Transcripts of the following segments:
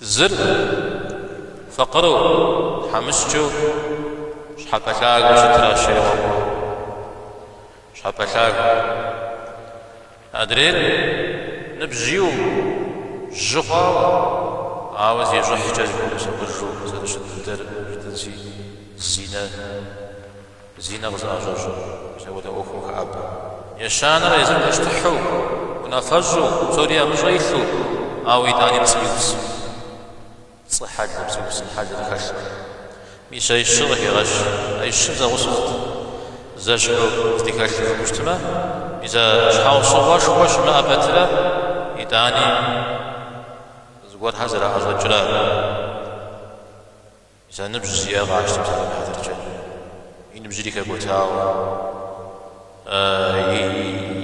Зыр, фыкъыру, тхьэмыщкӏэу щхьэпэ лъагэу щытращ, жи. Щхьэпэ лъагэ. Адрейр ныбжь иӏэу, жьы хъуауэ, ауэ зещӏыхькӏэ зыхуэмысакъыжу зэрыщыт дыдэр жытӏэнщи, зинэ. Зинэ къызыӏэщӏэщӏэр мис апхуэдэ ӏуэхум хэӏэбэ. Ещанэр езыр пащтыхьу, унафэщӏу, псори и ӏэмыщӏэ илъу, ауэ итӏани пцӏы иупсу, пцӏы хьэлыр, пцӏыупсын хьэлыр зыхэлъ. Мис а ищыр къыхегъэщ, а ищыр зэгъусэт. Зэщхьу здыхэлъыр хъупщтмэ, мис а щхьэусыгъуэшхуэ щымыӏэ пэтрэ итӏани зыгуэрхэр зэраӏэщӏэкӏрэ? Зы ныбжь зиӏэр къапщтэмэ, псалъэм и хьэтыркӏэ. И ныбжьри хэкӏуэтауэ,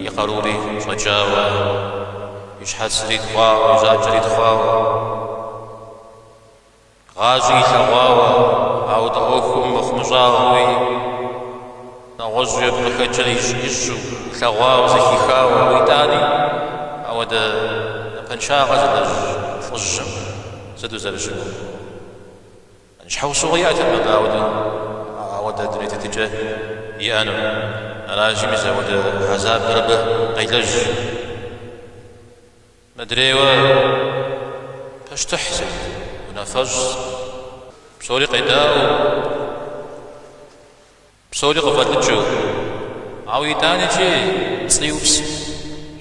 и къарури щӏэкӏауэ, и щхьэцри тхъуауэ, и жьакӏэри тхъуауэ, гъащӏи илъэгъуауэ, ауэдэ ӏуэхум мыхъумыщӏагъэуи, нэгъуэщӏуи абы къыхэкӏыр ищӏэу, илъэгъуауэ, зэхихауэ. Ауэ итӏани, ауэдэ напэншагъэ зылэжь лӏыжьым сыт узэрыщыгугъынур? Щхьэусыгъуэ иӏэтэкъым абы ауэдэу ауэдэ дуней тетыкӏэ иӏэну. Аращи, мис ауэдэ хьэзабыр абы къелэжь. Мыдрейуэ пащтыхь сыт, унафэщӏ сыт, псори къедаӏуэу. Псори къыфӏэлӏыкӏыу, ауэ итӏанэкӏи пцӏы иупсу,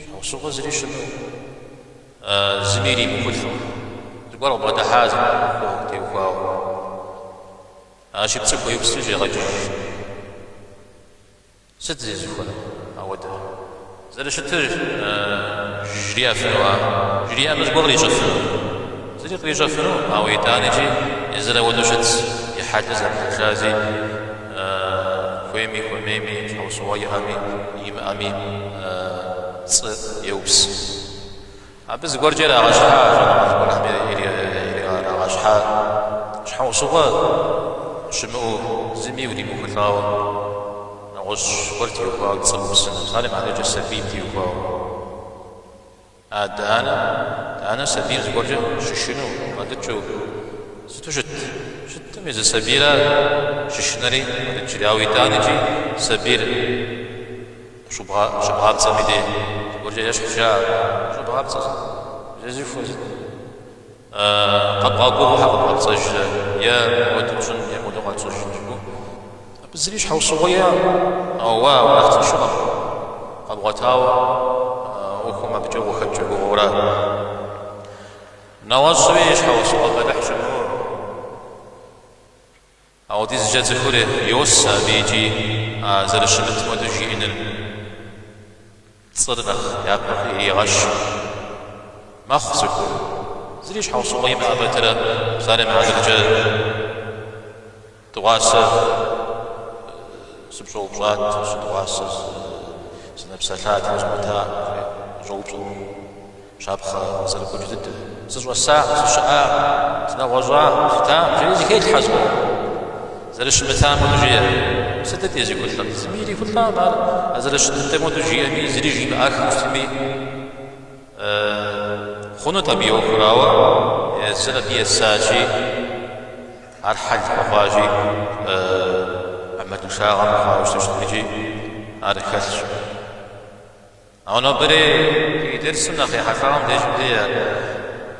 щхьэусыгъуэ зыри щымыӏэу, зыми иримыхулӏэу, зыгуэр къыбгъэдыхьа зы ӏуэху теухуауэ. Аращи, пцӏы хуеупсри щӏегъэкӏыж. Сыт зезыхуэр ауэдэр? Зэрыщытыр жриӏэфынуа? Жриӏэмэ зыгуэр кърищӏэфыну? Зыри кърищӏэфыну, ауэ итӏанэкӏи езыр ауэдэу щытщ, и хьэлыр зэрихьэлращи, хуейми, хуэмейми, щхьэусыгъуэ иӏэми, имыӏэми, пцӏы еупс. Абы зыгуэркӏэ ирагъэщхьа а щӏэныгъэлӏхэм ирагъэщхьа щхьэусыгъуэ щымыӏэу, зыми уримыхулӏауэ, нэгъуэщӏ гуэр теухуауэ дызэгупсысыну, псалъэм и хьэтыркӏэ сабийм теухуауэ. Адэ-анэм, анэм сабийр зыгуэркӏэ щышынэу къыдэкӏыу сыту щыт, щытми, зы сабийр щышынэри къыдэкӏри, ауэ итӏанэкӏи сабийр. Щӏыбгъапцӏэм и дей зыгуэркӏэ ещхьу жаӏэ. Щӏыбгъапцӏэ сыт? Зезыхуэ сыт? Къэбгъэгугъэу къэбгъэпцӏэжрэ е мыуэду пщӏын е мыуэду къэтщӏыжын жыпӏэу? Абы зыри щхьэусыгъуэ иӏэкъым, ауэ уэ абы нэхъ тыншыгъэм къэбгъуэтауэ ӏуэхум абыкӏэ ухэкӏ уи гугъэура. Нэгъуэщӏри и щхьэусыгъуэ бэлыхь щымыӏэу. Апхуэдизкӏэ цӏыхур йосэ абы икӏи а зэрыщымытым хуэдэу жиӏэныр пцӏыр нэхъ япэ иригъэщу мэхъу цӏыхур. Зыри щхьэусыгъуэ имыӏэ пэтрэ псалъэм и хьэтыркӏэ дыгъуасэ сыпщӏэупщӏат, сыдыгъуасэ сынэпсэлъат, узгъуэтакъым жиӏэу къыщӏэупщӏэркъым. Щапхъэ зэрыкӏуэкӏ дыдэм. Сыщӏэсакъым, сыщыӏакъым, сынэгъуэщӏакъым, сытакъым, жери зыхелъхьэ зыгуэрым. Зэрыщымытам хуэдэу жеӏэ. Сытыт езыхулӏэр? Зыми ирихулӏакъым ар. А зэрыщыт дыдэм хуэдэу жиӏэми, зыри жимыӏэххэу щытми, хъунут абы и ӏуэхур, ауэ езыр абы есащи, ар хьэл хуэхъуащи, ӏэмалыншагъэ мыхъуауэ щытащ, иджи ар хэлъщ. Ауэ нобэри ди дерсым нэхъ ехьэлӏам деж мыди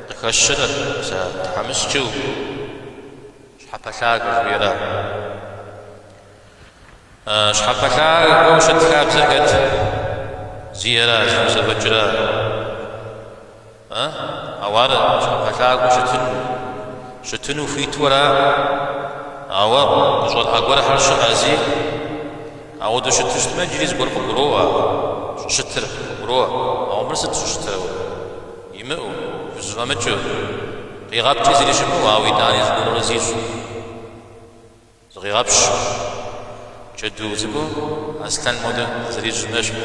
къыхэщырэ, зэ тхьэмыщкӏэу щхьэпэлъагэ жыхуиӏэра? Щхьэпэлъагэу щыт хабзэ хэт зиӏэра, зыхузэфӏэкӏыра? Ауэ ар щхьэпэлъагэу щытыну, щытыну хуиту ара? Ауэ къыщӏэрыӏэ гуэрхэр щыӏэщи? Апхуэдэу щыту щытмэ, иджыри зыгуэр къыбгуроӏуэ, щӏыщытыр къыбгуроӏуэ. Ауэ мыр сыт щӏыщытыр? Имыӏэу, хузэфӏэмыкӏыу, къигъэпкӏи зыри щымыӏэу, ауэ итӏани зыгуэрурэ зищӏу. Зыкъегъэпщ, джэду цӏыкӏу аслъэным хуэдэу зэрищӏым ещхь.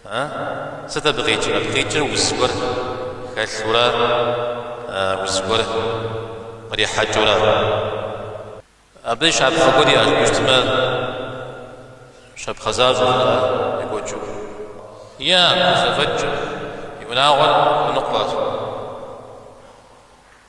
Э, сыт абы къикӏыр? Абы къикӏыр уз гуэр хэлъура уз гуэр кърихьэкӏыура. Абы щапхъэ гуэр иӏэщ, мис щытмэ щапхъэ защӏэурэ екӏуэкӏыу. Е, къызэфӏэкӏ, и унагъуэр хуэныкъуэщ.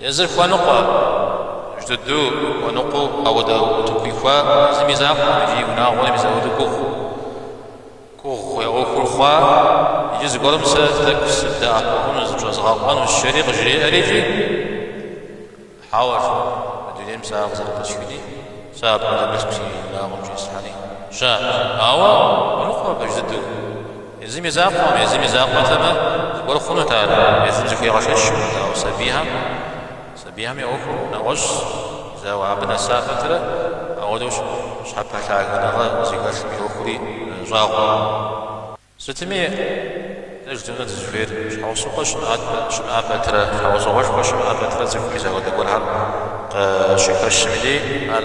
Езыр хуэныкъуэжь дыдэу, хуэныкъуэу ауэдэ утыку ихуа езым и закъуэм икӏи и унагъуэми апхуэдэу гугъу. Гугъу и ӏуэхур хъуа, иджы зыгуэрым сэ тӏэкӏу сыбдэӏэпыкъуну, зыпщӏэзыгъэкъуэну жери къыжриӏэри икӏи? Хьэуэ, жи, мы дунейм сэ ар къызэрыпӏысхыни, сэ апхуэдэ мылъку си унагъуэм щӏислъхьэни щыӏэкъым. Ауэ, хуэныкъуэжь дыдэу. Езым и закъуэм, езым и закъуэхэмэ, зыгуэр хъунут ар, езым зыхуегъэшэчри, ауэ сабийхэм, сабийхэм я ӏуэхур нэгъуэщӏщ, ауэ абы нэса пэтрэ ауэдэу щхьэпэлъагагъэ зыхэлъым и ӏуэхури щӏагъуэкъым. Сытми, дэ жыдмыӏэу дызыхуейр, щхьэусыгъуэ щымыӏэ пэтрэ, щхьэусыгъуэшхуэ щымыӏэ пэтрэ цӏыхум и закъуэ зыгуэрхэм къыщыхэщым деж, ар.